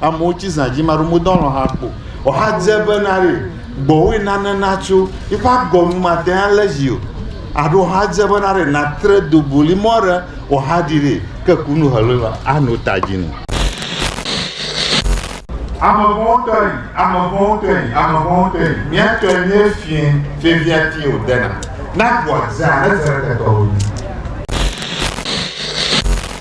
Amewo tsi zã dzi maɖo modɔ lɔ hã kpo. Ɔha dze be na re gbɔwoe nane natso. Iƒe agɔ nu mate hã le zi o. Aɖo ɔha dze be na re natre do boli mɔ re ɔha ɖi re ke kunu helo la ano ta dzi nu. Ame vɔ̃wo tɔe, ame vɔ̃wo tɔe, ame vɔ̃wo tɔe, mía tɔe nye fie, fie via ti o dena. Na gbɔa zea ne zere ketɔ o dzi.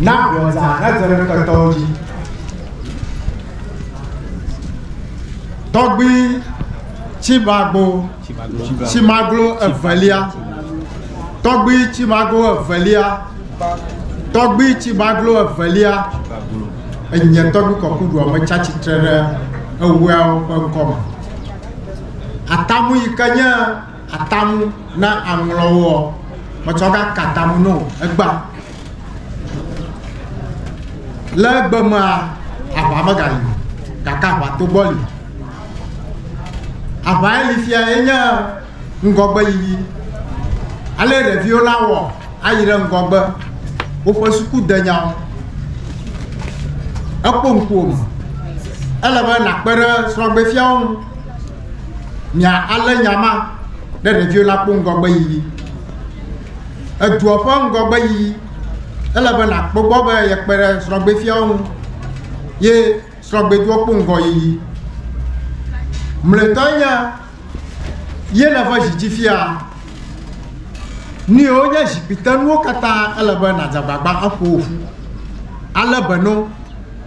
Na gblɔdzaa nedze ɖe ketɔwo dzi. Tɔgbui Tsimagbo Tsimaglo evelia Tɔgbui Tsimagbo evelia Tɔgbui Tsimaglo evelia Enye tɔgbui kɔkuɖua metsa tsitre ɖe eweawo ƒe ŋkɔ me. Atamu yi ke nye Atamu na aŋlɔwo ɔ, metsɔ ga ka tamu no egba. Le egbe mea, aʋa me gali o, gake aʋa to gbɔ li. Aʋa ye li fia ye nye ŋgɔgbe yiyi. Ale ɖeviwo la wɔ ayi ɖe ŋgɔgbe, woƒe suku denyawo. Ekpɔ ŋkuwò me. Ele be nakpe ɖe srɔ̃gbefiawo ŋu. Nya alé nya ma ɖe ɖeviwo la kpɔ ŋgɔgbeyiyi. Edua ƒe ŋgɔgbeyiyi, ele be nàkpɔ gbɔ be yekpe ɖe srɔ̃gbefiawo ŋu ye srɔ̃gbedua kpɔ ŋgɔyiyi. Mlɔetɔe nye ye nève zi dzi fia. Nui wonye zikpuitenuwo katã ele be nàdze agbagba aƒo wo ƒu. Ale be no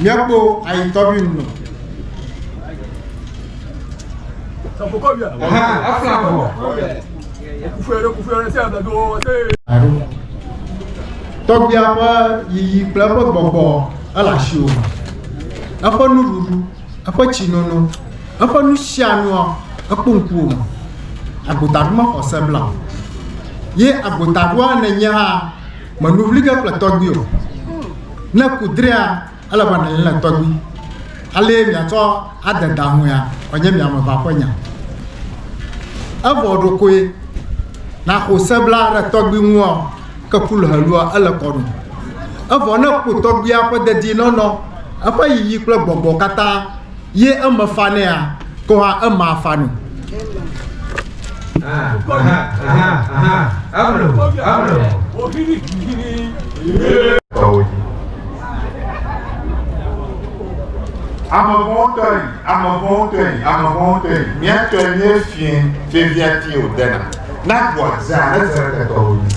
Míakpɔ ayitɔvi ŋu. Tɔgbia ƒe yiyi kple eƒe gbɔgbɔ ele asiwò me. Eƒe nuɖuɖu, eƒe tsinono, eƒe nusianua, ekpɔ ŋkuwò me. Agota ɖu mexɔ se blam. Ye agota ɖua nènye hã. Mènu vli ge kple tɔgbui o. Ne ku drea, ele be nànyi le tɔgbui. Alee miatsɔ ade da ŋuea, wòanye mi ame eve ƒe nya. Evɔ ɖokoe na xose bla ɖe tɔgbui ŋua, ke ku le helua, ele kɔ nu. Evɔ ne ku tɔgbuia ƒe dedienɔnɔ, eƒe yiyi kple gbɔgbɔ katã ye eme fanɛa, ko hã ema afa nu. Ame vɔ̃wo tɔe, ame vɔ̃wo tɔe, ame vɔ̃wo tɔe, mía tɔe nye fiẽ, fiẽviati wòdena, na ʋua zea, ezea ketɔwo dzi.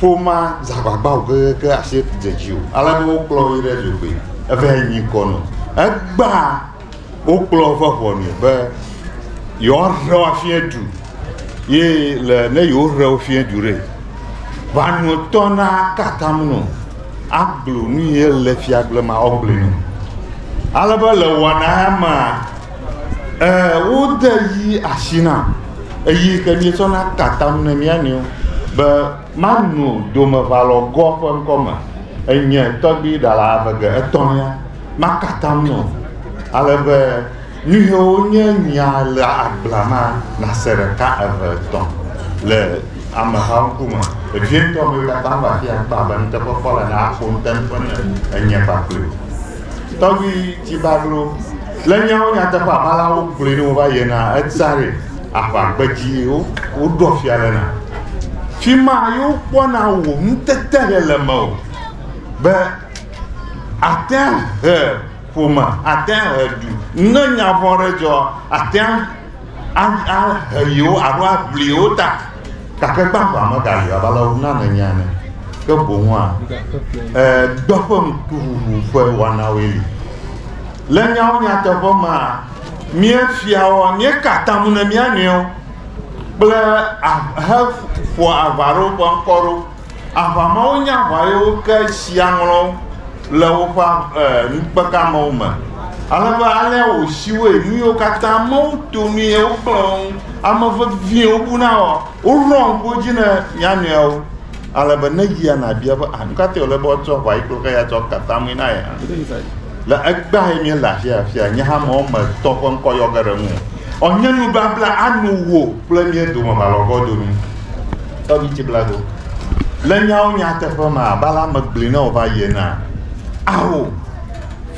Ƒomea dze agbagba o kekeake asi dze dzi o. Ale be wokplɔ yi ɖe dzogoe. Eva yi nyi kɔ nɔ. Egbea wokplɔ eƒe ʋɔnui be yewoaɖe wo afia du. Ye le ne yewoɖe wo fia du ɖe, ʋɔnuatɔ naka atam nɔ agblɔ nu yi le fiagblema wòagblɔe nɔ. Ale be le wɔna ya mea, Ɛɛ, wode yi asi na. Eyi ke míetsɔna tatam ne mía nɔewo be mano domeʋalɔgɔ ƒe ŋkɔ me. Enye tɔgbi ɖala ame ge etɔ̃lia makatam nɔ. Ale be nu yiwo nye nya le agblea ma nase ɖeka, eve, etɔ̃ le ameha ŋkume. Vevietɔ mi katã va afi ya kpɔ abe nuteƒekpɔla naƒo nuteƒe ne enye kpakple wò. Tɔgbi Tibaglo Le nyawo nyateƒe aƒe la wogblɔe ne wova yena etsare aʋagbedzi wo woɖɔ fia le na fi ma yewo kpɔna wò ŋutete le le me o be atea he ƒome atea he du ne nya vɔ̃ ɖe dzɔ atea ahe yewo alo aʋli yewo ta, gake kpe aʋa megayi abe ale wona nene ene, ke boŋua e, dɔ ƒe ŋkuʋuʋu ƒe wɔnawoe li. Le nyawo nyateƒe mea, míefiawo, míeka atam ne mía nɔewo kple ahe ƒoa aʋa ɖewo ƒe ŋkɔ ɖo. Aʋa mawo nye aʋa ye woke shia ŋlɔ le woƒe eh, nukpekeamewo me. Ale be alea wòshiwoe nu yiwo katã amewo to nu ye wogblẽ wo ŋu. Ame vevie wobuna wɔ, woɖoa ŋku wo dzi ne mia nɔewo. Ale be ne yia nàbia be, ah, nu ka tae wòle be woatsɔ aʋa yi kple xeya tsɔ ka tamee na ye hã? Le egbea ye míele afi afia, nye hã mewɔ me tɔ ƒe ŋkɔ yɔ ge ɖe ŋu. Ɔ, nye nubabla anu wò kple mía dome malɔgɔdo nu. Tɔbitsi blago. Le nyawo nyateƒe ma, Bala megblɔe na wòva yie na awo.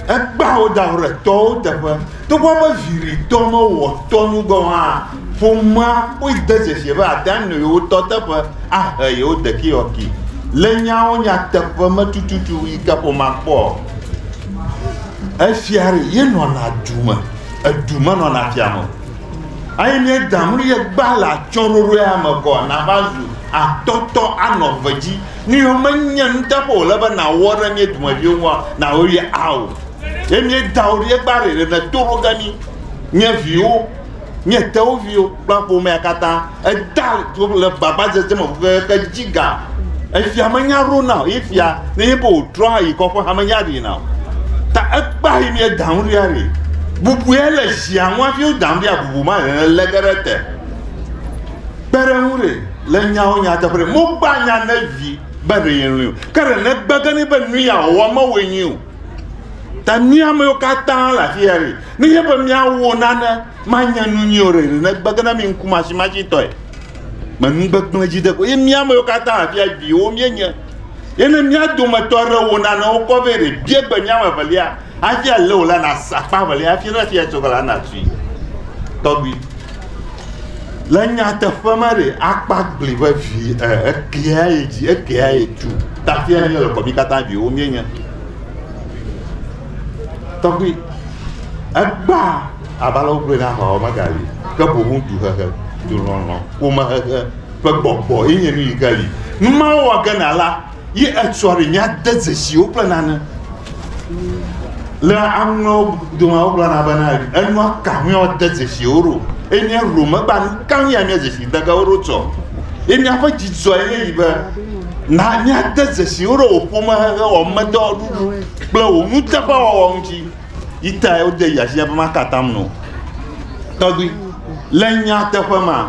Ekpa wo da ɖe tɔwo teƒe. Togbɔ be viɖitɔ mewɔ tɔ nu gɔ̃ hã, ƒomea kpɔe de dzesi be ate ŋu anɔ yewo tɔ teƒe ahe yewo ɖekeyɔki. Le nyawo nyateƒe me tututu yi ke ƒomea kpɔ efia ɖe, yenɔna du me, edu menɔna fia me o. Eye míeda nu ye gbã le atsyɔ̃ɖoɖo ya me kɔa, nàva zu atɔtɔ anɔ eve dzi. Nu yiwo menye nuteƒe wòle be nàwɔ ɖe mía dumeviwo ŋua, nàwɔe ɖi ao. Ye míeda wo ɖi ye gbã ɖeɖe nèto ɖo ge mí, mía viwo, mía tewuviwo kple ƒomea katã. Edea dzo le gbagbadzedze me hehe dzi ga. Efia menya ɖona o. Ye fia ne ye be wòtrɔ ayi kɔ ƒe hame ya ɖina o. Ta ekpa yi mi edaŋu ɖi aɖi. Bubue le zia ŋu hafi wodaŋu ɖi abubu ma hehe le ge ɖe te. Kpe ɖe ŋu ɖe le nyawo nyateƒe ɖe. Mogba nya ne vi be ɖe ye lɔe o. Ke ɖe ne gbe ge ne be nu ya wòwɔ mewɔe nyuie o. Ta mía amewo katã le afi ya ɖi. Ne nye be míawɔ nane Manya nu nyuie o ɖe ɖe ne gbege na mi ŋkumasimashitɔe. Me nu gbegblẽ dzi de ko. Ye mía amewo katã afia viwo míenye. Ye ne mía dometɔ aɖe wɔ nanewo kɔ vɛ ɖe, bia gbe mía ame evelia hafi alé wòla nasa akpa evelia hafi ne fia tso gala natui. Tɔgbui, le nyateƒe me ɖe, akpa gli vevi e, ekea ye dzi, ekea ye tu. Tafia ne míele kɔ mí katã viwo míenye. Tɔgbui, egbea Abe ale wogblɔe na Hawa megali, ke boŋ duhehe, dulɔlɔ̃, ƒomehehe ƒe gbɔgbɔ ye nye nu yi ke li. Nu ma wɔ ge na la, ye etsɔ ɖe míade dzesi wo kple nane. Le aŋlɔ dome wogblɔna bena enua ka ŋue wode dzesi wo ɖo. Eye ne ɖo megba nu ka ŋu ya mía dzesi de ge wo ɖo tsɔ. Ye míaƒe dzidzɔ ye yi be na míade dzesi wo ɖo wò ƒomehehe, wò amedɔwɔɖuɖu kple wò nuteƒewɔwɔ ŋuti. Yita ya wode yi asi ya be maka atam nɔ. Tɔgbui, le nyateƒe ma,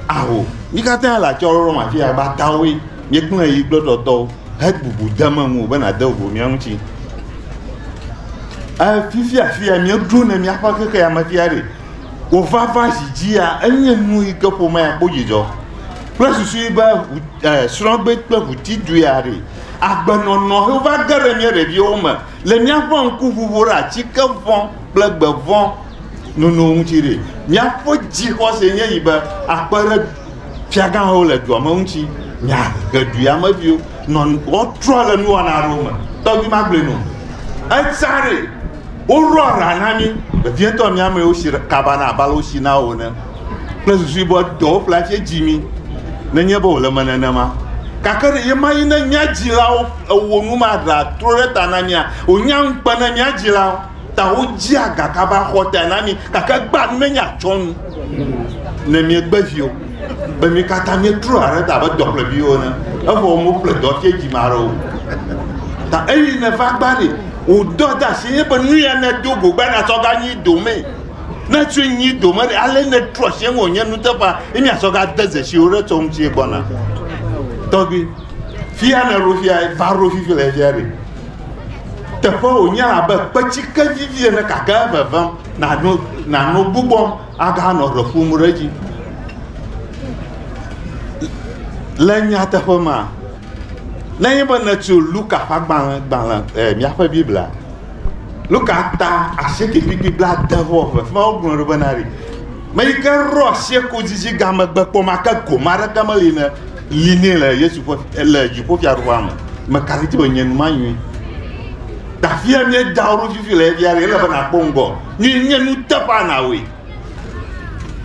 aho. Mi katã le atsyɔ̃ɖoɖo ma fia be atawoe míekplɔe yi kple tɔtɔwo hebubu de me ŋu be nàde vovo mía ŋuti. Fifia afia míeɖo ne míaƒe xexeame fia ɖe wòvava zi dzia enye nu yi ke ƒomea akpɔ dzidzɔ kple susu be srɔ̃gbe kple ʋutidua ɖe agbenɔnɔ wova ge ɖe mía ɖeviwo me Le míaƒe ŋkuʋuʋu ɖe atike vɔ̃ kple gbe vɔ̃ nono ŋuti ɖe, míaƒe dzixɔse nye yi be akpe ɖe fiagãwo le dua me ŋuti miahe du ya me viwo nɔ woatrɔ le nuwɔna aɖewo me. Tɔgbi magblɔe no. Etsa ɖe woɖo ara na mí vevietɔ mía amewo si kaba na abale wosi na wo ene kple susui be dɔwo ƒle atse dzi mí nenye be wòle eme nenema. Gake ɖe ye ma yi ne mía dzilawo Ewɔ nu maɖa trɔ ɖe ta na mía. Wònya ŋukpe ne mía dzilawo ta wodzea ga kaba xɔtae na mí, gake egbea nu ne míatsɔ nu ne míegbe viwo, be mí katã míetrɔa ɖe ta abe dɔƒleviwo ene. Evɔ womeƒle dɔ tse dzi ma ɖe o. Ta eyi neva gba ɖi, wòdɔ de asi nye be nu ya nedo go gba natsɔ ga nyi domee. Ne tsɔ nyi dome ɖe, ale netrɔ asi ŋu wònye nuteƒa ye míatsɔ ga de dzesi wo ɖe tsɔ ŋuti gbɔna. Tɔgbi. Fia ne ɖo fia va ɖo fifi le fia ɖe. Teƒe wònye abe kpetsike vivi ene gake evevem nano nano gbugbɔm aganɔ ɖe ƒom ɖe edzi. Le nyateƒe ma, nenye be nètso Luka ƒe agbalẽ gbalẽ eh, míaƒe Biblia Luka ta asieke kpikpi bla de vɔ eve fima wogblɔ ɖo bena ɖi me yi ke ɖo asieko dzidzigã megbe kpɔ make gome aɖeke meli ne yi nɛ le Yesu ƒe le dziƒofiaɖuƒea me. Mekafi ti be nye nu manyui. Tafia nye dawo ɖo fifi le efia ele be nakpɔ ŋgɔ. Nye nye nu teƒa nawe.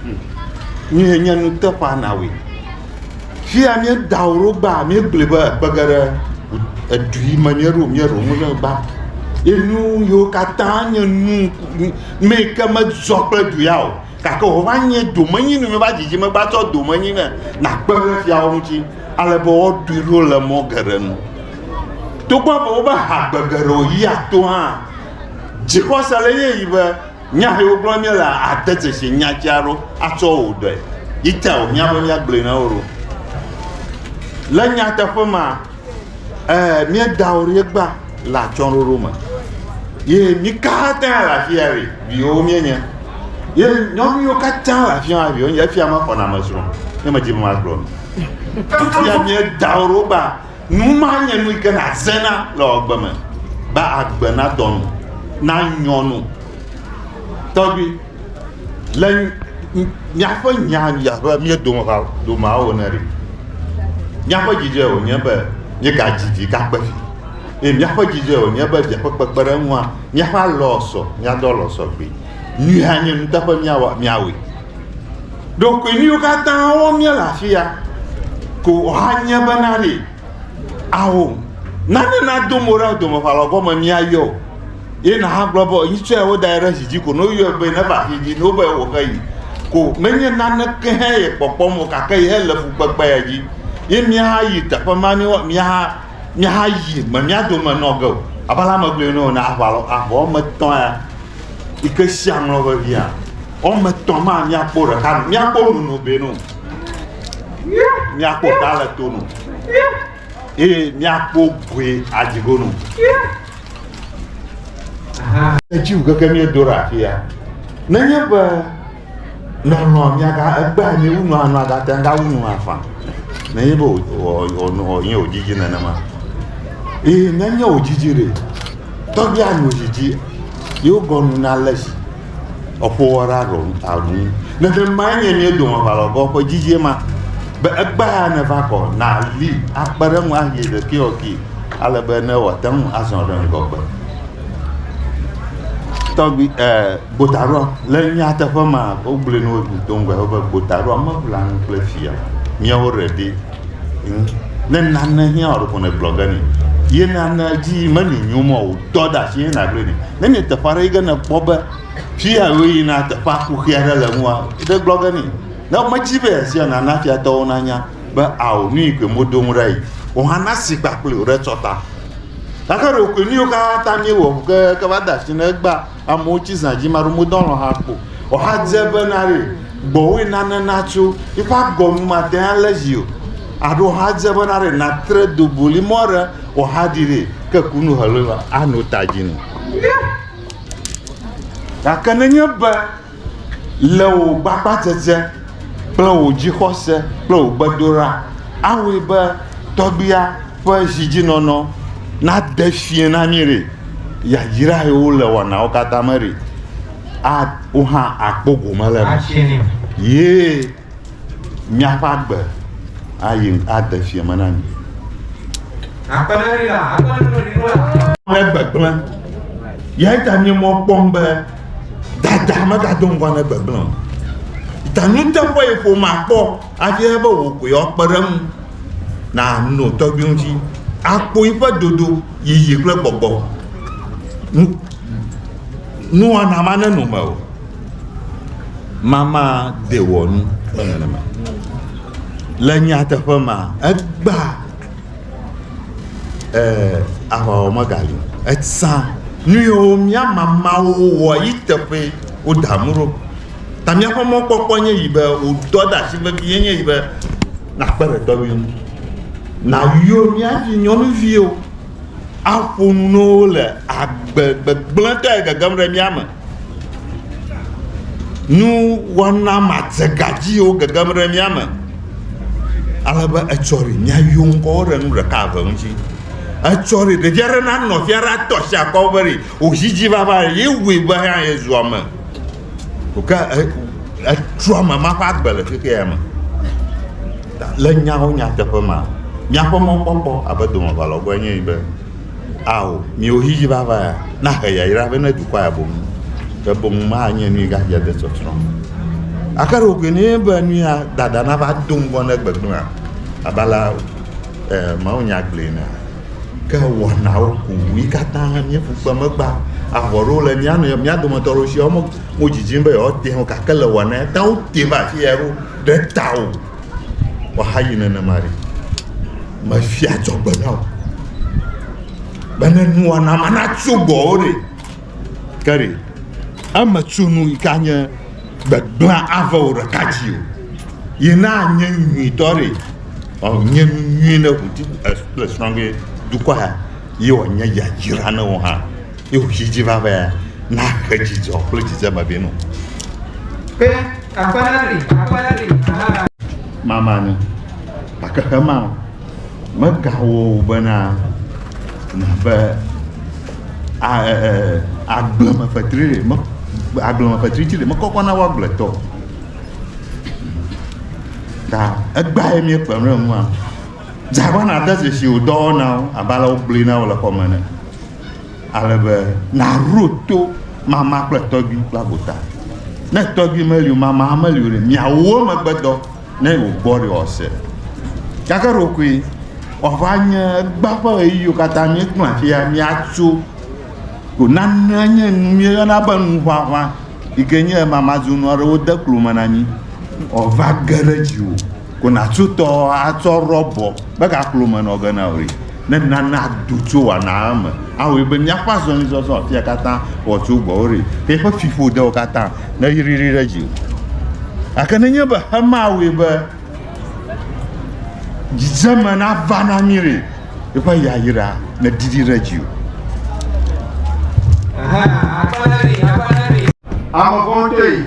Hmm. Nye nye nu teƒa nawe. Fia nye dawo ɖo gba mi gblẽ be ekpege ɖe edu yi me nye ɖo mi ɖo mu ne gba. Enu yo katã nye nu me ke me zɔ kple du ya o. Gake wova nye domenyinu mi va dzidzi megba tsɔ domenyinu nakpe ɖe fiawo ŋuti ale be woɖui ɖo le mɔ geɖe nu togbɔ be wobe hagbe geɖe yi ato hã dzixɔse le ye yi be nya yi wogblɔ mi le ade dzesi nya dzi aɖo atsɔ wò ɖe yi ta wò nya be nya gblɔe na wo ɖo le nyateƒe ma ɛɛ miedawo ɖe gba le atsyɔ̃ɖoɖo me. Ye mí katã le afi ya ʋi, viwo míenye. Ye nyɔnuviwo katã le afi ma viwo nye, efia mexɔna ame srɔ̃, ne medzi be magblɔ nu. Fifia míeda wo ɖo ba, nu ma nye nu yi ke nàzena le agbe me, be agbe nadɔ nu, nanyɔ nu. Tɔgbi. Le míaƒe nya abe mía domehawo ene ɖi. Míaƒe dzidzɔe wònye be míegadzi vi gakpe vi. Eye míaƒe dzidzɔe wònye be via ƒe kpekpeɖeŋua, míaƒe alɔ sɔ, míado alɔ sɔ gbee. Nyui hã nye nuteƒe míawɔ míawɔe. Ɖekoe nu yiwo katã wɔm míele afi ya ko wòanye bena ɖi, ao, nane nado mo ɖe domeʋalɔ gɔme míayɔ o. ye nahagblɔ be yi tsɔe wodae ɖe zi dzi ko ne woyɔe be neva afi dzi ne wobe wòxe yi ko menye naneke hã ye kpɔkpɔm o gake ye le fukpekpea dzi ye míahayi teƒe ma ne míaha míahayi me mía dome nɔ ge o abe ale megblɔe ne wòna aʋa lɔ aʋa wɔme etɔ̃ ya yi ke sia ŋlɔ vevia wɔme etɔ̃ ma míakpɔ ɖeka míakpɔ nono be no míakpɔ ta le to no. eye míakpɔ goe adi go nu. Etsi ŋu keke míedo ɖe afi ya. Nenye be nɔnɔ miaga egbe anyi wu nɔ anɔ agate ŋga wu nɔ afã. Nenye be wònye wòdzidzi nenema. Eye nenye wòdzidzi ɖe, tɔgbia nu dzidzi yewo gɔnu na le si. eƒowɔɖe aɖɔ aɖu ŋu. Nenemae nye mía dome aʋalɔgɔ ƒe dzidzie ma be egbea ya neva kɔ nàli akpe ɖe eŋu ahe ɖekɛwɔkee ale be ne wòate ŋu azɔ ɖe ŋgɔgbe. Tɔgbi e gbotaɖɔ le nyateƒe ma wogblɔe ne wodo ŋgɔe be gbotaɖɔ meʋlanu kple fia míawo ɖeɖi Ŋ, ne nane hiã wò ɖeko nègblɔ ge nɛ. Ye nanea dzi menyonyo mɔ o, tɔ ɖe asi ye nàgblɔe nɛ. Ne nyi teƒe aɖe yi ke nèkpɔ be fi ya wò yina teƒea kuxi aɖe le nua, ɖe gblɔ ge nɛ. Ne medzi be yeasia o, nana fiatɔwo nanya be ao nu yi koe modo ŋu ɖa yi. Wò hã nasi kpakple wo ɖe tsɔta. Gake ɖekoe nu yiwo katã míewɔ ke, ke va de asi na egbea, Amewo tsi zã dzi maɖo modɔ lɔ hã kpo. Ɔha dze be na re gbɔwoe nane natso. Iƒe agɔnu mate hã le zi o. Aɖo ɔha dze be na re natre do boli mɔ re ɔha ɖi re ke kunu helo la ano ta dzi nu. Gake nenye be Le wò gbagbadzedze kple wò dzixɔse kple wò gbedoɖa awɔe be tɔgbuia ƒe zidzinɔnɔ nade fiẽ na mí ɖe? Yayrae wole wɔnawo katã me ɖe? A Wò hã àkpɔ gome le eme. Ye míaƒe agbe ayi ade fiẽ me na mi. Megbegblẽ. Yae ta nye mɔ kpɔm be dada megado ŋgɔ ne gbegblẽ o. Ta nuteƒe yi ƒome akpɔ hafi be wò koe woakpe ɖe eŋu na nɔ tɔgbi ŋuti akpɔ yiƒe dodo yiyi kple gbɔgbɔ nuwana ma nenɔ me o. mama de wɔ nu kple nenema. Le nyateƒe ma, egba eh, aʋawɔ megali. Etsã nu yiwo mía mamawo wɔ yi teƒe woda mu ɖo. Ta míaƒe mɔkpɔkpɔ nye yi be wòdɔ ɖe asi vevie nye yi be nakpe ɖe dɔwui ŋu. Nayɔ mía vi nyɔnuviwo aƒo nu na wo le agbe gbegblẽtɔe gegem ɖe mía me. nuwɔna madzega dziwo gegem ɖe mía me ale be etsɔ ɖi míayɔ ŋkɔ wo ɖe nu ɖeka eve ŋuti. Etsɔ ɖi ɖevia ɖe nanɔ afi aɖe ato asi akɔ be ɖi wòzi edzi vava ɖe ye wui be hã yezu ame o ke e etrɔ ame ma ƒe agbe le xexea ya me. Ta le nyawo nyateƒe mea míaƒe mɔkpɔkpɔ abe domeʋalɔgoe enye be Ao, miwo xexi vava ya, nahe yayra vɛ ne dukɔa ya boŋ, ke boŋ manye nui gadzia de tsɔtsrɔ̃ me. Gake ɖe wògblɔe nɛ be nu ya dada nava do ŋgɔ ne gbegblẽa abe ale e, mawunya gblɔe enea? Ke wɔnawo ku ŋu. Yi katã míeƒu kpe megba. Avɔ ɖewo le mía nɔewo mía dometɔ ɖewo si woawo me- modzidzim be yewoate ŋu o gake le wɔna ya ta wote va afi ya ɖo ɖe tawò. Woahayi nenema ɖe, mefia adzɔgbe na wò be ne nuwɔna ma natso gbɔwò ɖe. Ke ɖe eme tso nu yi ka nye gbegblẽ ave wò ɖeka dzi o. Yi na nye nyuitɔ ɖe, nye nu nyui ne wò ti le srɔ̃ ge dukɔa, ye wòanye yayra na wò hã. ye wòtsi dzi va be nahe dzidzɔ kple dzidzeme vɛ nɔ. Pe akpana li, akpana li, aha. Mama ni, gake hema megawɔ wò bena nàve agblemefetri ɖe, me agblemefetri dzi ɖe mekɔkɔ na wo agbletɔ. Ta egbea ye míekpe ɖe ŋua. Dzagbana de dzesi wò dɔwɔnawo abe ale wogblɔe na wò le xɔme ene. Ale be nàɖo to mama kple tɔgbi kple agota. Ne tɔgbi meli o, mama hã meli o ɖe, miawo megbedɔ ne wògbɔ ɖe wòase. Gake ɖokoe wòava nye egbea ƒe ɣeyiɣiwo katã míegblẽ afi ya míatso ko. Nanea nye nu míeyɔna be nuʋaʋã yi ke nye mamadzonu aɖewo de klo me na mí wòava ge ɖe dziwò. Ko nàtso tɔ atsɔ rɔbɔ megaklo me nɔ ge na wò ɖi. Ne nana do tso wanaa me awɔe be míaƒe azɔlizɔzɔ afia katã wòatso gbɔwò ɖi. Ke eƒe fiƒodewo katã neyri ɖi ɖe dziwò. Gake nenye be Xema awɔe be dzidzeme nava na mí ɖi, eƒe yayra nedidi ɖe dziwò. Ame vɔ̃ɖi.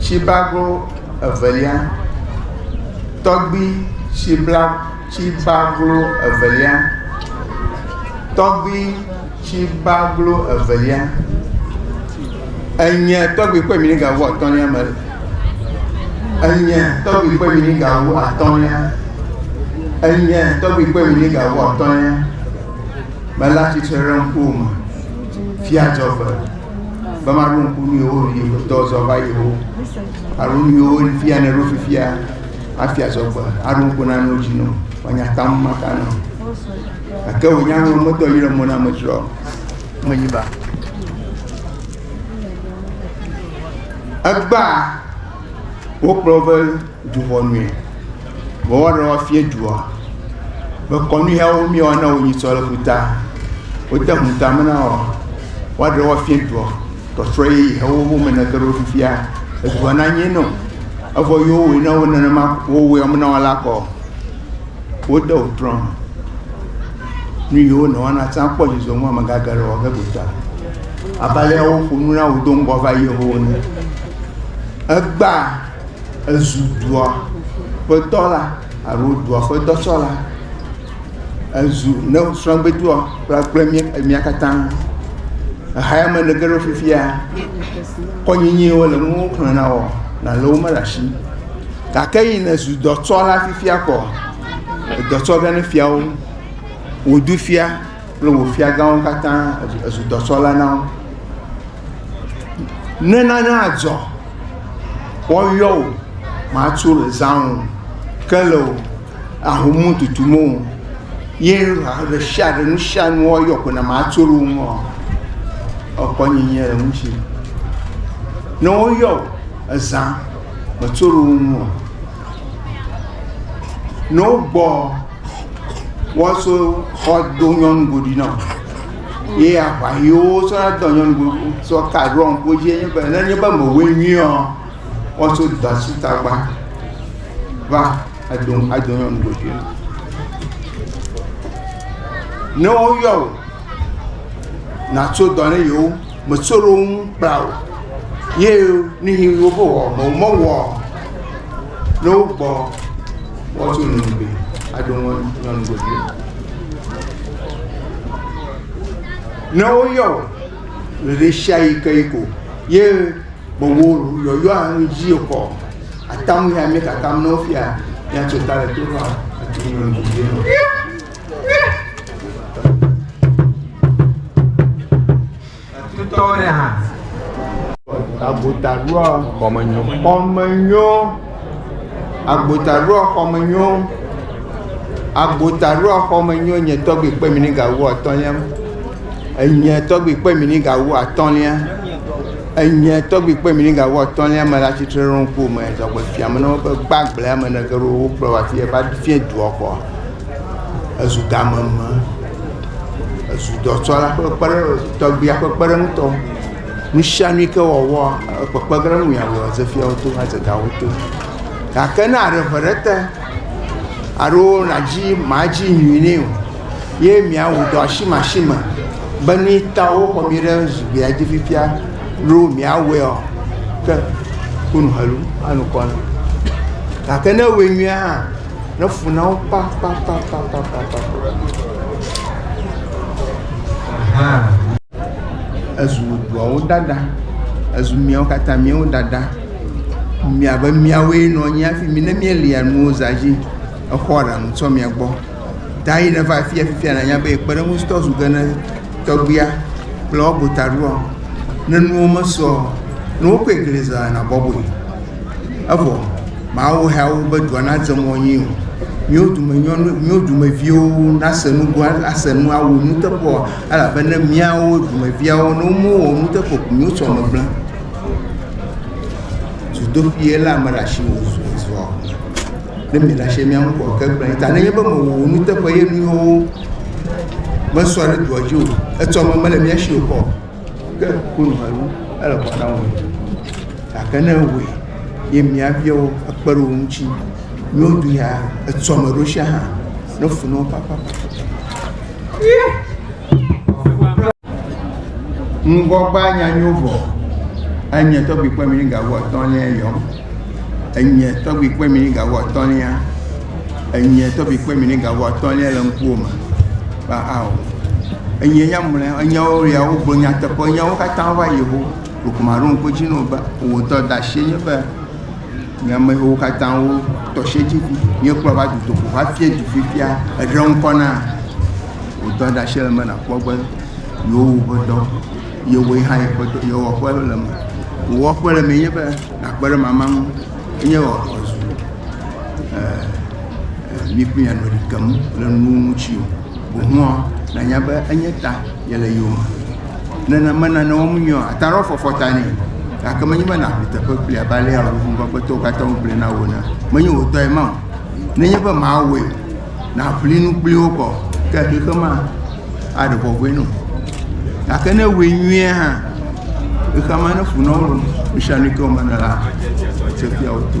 Tsibago evelia, tɔgbi tsibla tsibaglo evelia, tɔgbi tsibaglo evelia, enye tɔgbi kpe mi gawu atɔ̃lia me, enye tɔgbi kpe mi gawu atɔ̃lia, enye tɔgbi kpe mi gawu atɔ̃lia, mele atsitre ɖe ŋkuwò me, fia dzɔgbe. be maɖo ŋku nu yewo yi futɔ zɔ va yi wo alo nu yewo fia ne ɖo fifia hafi azɔ gbe aɖo ŋku na nu dzi no wanya tam maka nɔ gake wònya nu metɔ yi ɖe mo na metsrɔ menyi ba egbea wokplɔ be Du ʋɔnue. Vɔ woaɖe woafia dua be kɔnu yawo mi woana wo nyi sɔ le ƒuta. Wode ŋu tame na wo. Woaɖe woafia dua. Tɔtrɔ ye yi hewo wo me neke ɖo fifia. Edua na nye nɔ. Evɔ yi wowɔe na wo nenema wowɔe wɔm na wo la kɔ. Wode wo trɔ. Nu yi wonɔ wana tsã kpɔ dzidzɔ ŋu amegage le wɔ ge gota. Abe ale woƒo nu na wo do ŋgɔ va yi yehowo ne. Egba Ezu dua ƒe dɔla alo dua ƒe dɔtsɔla. Ezu ne srɔ̃gbedua kple mía katã. Xexeame ne ge ɖe fifia, kɔnyinyiwo wole enu wo xlẽ na wòa, nalẽwo mele asi o. Gake eyi ne zu dɔtsɔla fifia kɔ, edɔ tsɔ ge ne fiawo. Wòɖu fia. kple wò fiagãwo katã ezu dɔsɔla na wo. Ne nane adzɔ, woyɔ wò, matso le zã o, ke le o, ahomu tutu mo o, ye ɖe sia ɖe nu sia nu woyɔ ko na matso le wo ŋu o. Ekpɔ nyenye le ŋuti. Ne woyɔ wò, ezã, metso le wo ŋu o. Ne wogbɔ woaso xɔ do nyɔnu goɖi na o ye aʋa yiwo sɔ na dɔ nyɔnu go sɔ ka ɖo ŋku dzi enye be ne nye be mewɔe nyuie ɔ woaso dɔ asi tagba va edo ado nyɔnu goɖi na ne woyɔ o natso dɔ ne yewo metso ɖe wo ŋu kpla o ye ne yi wo be wɔ mewɔ o. Ne wokpɔ wɔtso nunugbe aɖo ŋɔ nyɔnugbe ɖe. Ne woyɔ ɖeɖe sia yi ke yi ko ye gbogbo yɔyɔ anu dzi xɔ atamu ya mi kakam ne wofia ya tso ta le to fa ati nyɔnugbe ɖe. Tutɔwo ɖe hã. Agbotaɖoa xɔmenyo. Xɔmenyo. Agbotaɖoa xɔmenyo. Agbotaɖoa xɔmenyo nye tɔgbi kpe mi ni gawu atɔlia. Enye tɔgbi kpe mi ni gawu atɔlia. Enye tɔgbi kpe mi ni gawu atɔlia me la tsitre ɖe ŋku me zɔgbe fia me na woƒe gbagble ame ne ge ɖo wokplɔ wa fi va fie dua xɔ. Ezu game me. Ezu dɔtsɔla ƒe kpeɖe, tɔgbia ƒe kpeɖeŋutɔ. Nu sia nu yi ke wòawɔa, ekpekpe ge ɖe eŋu yea wɔ ezefiawo to, adze ga wo to. Gake ne aɖe ŋe ɖe te alo nàdzi, màdzi nyui nɛ o ye mìawɔ dɔ asimeasime be nu yi ta woxɔ mí ɖe zugbea dzi fifia loo mìawɔea, ke ku nu helu anɔ kɔ na. Gake ne ewɔe nyuie hã, Ne fu na wo papapapapapapapapa. Ezu duawo ɖaɖa. Ezu miawo katã miawo ɖaɖa. Miabe miawoe nɔ anyi hafi mi ne mielia nuwo zã dzi exɔa ɖaŋu tso mia gbɔ. Dayi neva afia fifia nànya be kpeɖeŋutɔ zu ge ne. Tɔgbuia kple wo bu ta ɖoa, ne nuwo mesɔ o, ne wokpɔe gli zã la, nàbɔbɔe. Evɔ Mawu hea wo be dua nadze mɔ nyui o. Míwo dume nyɔnu, míwo dumeviwo nase nu gɔ̃, ase nu awu nuteƒe o, elabena míawo dumeviawo, ne womewɔ nuteƒe o, míwo sɔ megblẽ. Dzodoƒee la ame ɖe asi wòzua. Ne mi la shemia ŋu kɔ ke kple ta ne nye be mo wo nu te ko ye nu yo me so ale do ajo e to mo mele mi ashi ko ke ko no alu ele ko na wo ta ke ne wo ye mi avia wo e kpe ro mu chi mi o du ya e to mo ro sha ha no fu no papa ŋgɔgba nyanyo vɔ enye tɔgbi kpɔ mi gawo atɔlia yɔ enye tɔgbi kpɔ mi gawo atɔlia enye tɔgbi kpɔ mi gawo atɔlia le ŋkuwo me ba ao enye nyamle enyawo ya wo gblɔ nyateƒe nyawo katã va yewo lukuma ɖo ŋkɔ dzi no ba wo tɔ da shi nye be nye amewo katã wo tɔsiedziŋu míekplɔ va dutoƒo hafi du fifia eɖe ŋkɔ na wò dɔɖashi le me nàkpɔ be yewowu ƒe dɔ yewoe hã yeƒe dɔ yewɔƒe le me wɔƒe le me nye be nàkpe ɖe mama ŋu enye ɔzu mi kple ame ɖeka mu le nuwo ŋuti o boŋua nanya be enye ta yele yome. Nene mena ne wɔm nyuie o. Ata ɖewo fɔfɔ ta nɛ. Gake menye be nàʋli teƒe kpli abe alea ʋuʋumegbetɔwo katã ŋugblẽ na wò ene. Menye wò tɔe ma o. Nenye be mawɔe nàʋli nu kpli wo kɔ ke xexe ma aɖe bɔbɔe na wò. Gake ne ewɔe nyuie hã, xexea ma neƒo na wo loo. Nusianui ke wòmena la, atsɔ fia wo to.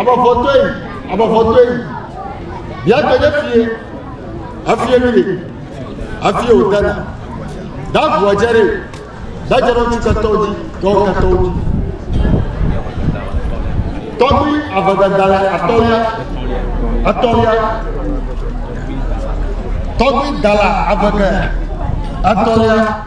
Abɔfɔtɔe, abɔfɔtɔe, bia gbe ɖe fie, efie nu ɖe, efie wòdana, da ʋua dze ɖe, da dze ɖe ŋutsu ketɔwo dzi, tɔwo ketɔwo dzi. Tɔgbi avegada le atɔlia, atɔlia, tɔgbi dala avege, atɔlia.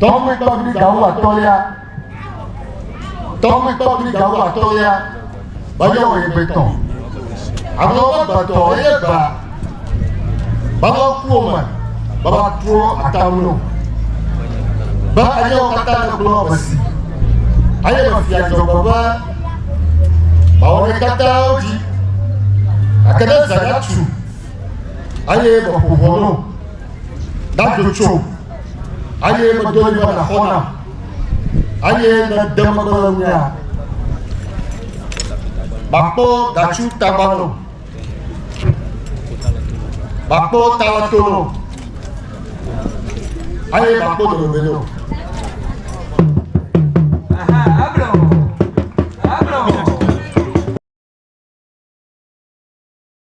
Tɔgbi tɔgbi gawo atɔlia. Tɔgbi tɔgbi gawo atɔlia. Bajɔ wɔ yebe tɔ. Ame wo gbetɔ eye ba. Baba kuwo me. Baba tuwo atamlo. Ba eye wo katã le gblɔ besi. Eye me fia dzɔgbe be. Bawo ne katã wo dzi. Akede zayatu. Eye me ƒo vɔlo. Dadzo tsom, eye medo ɣli be nàxɔ nam, eye ne ède megbe le ŋunyea, makpɔ datsu tagbalẽwo, makpɔ talẽtowo, eye makpɔ domegbeliwo.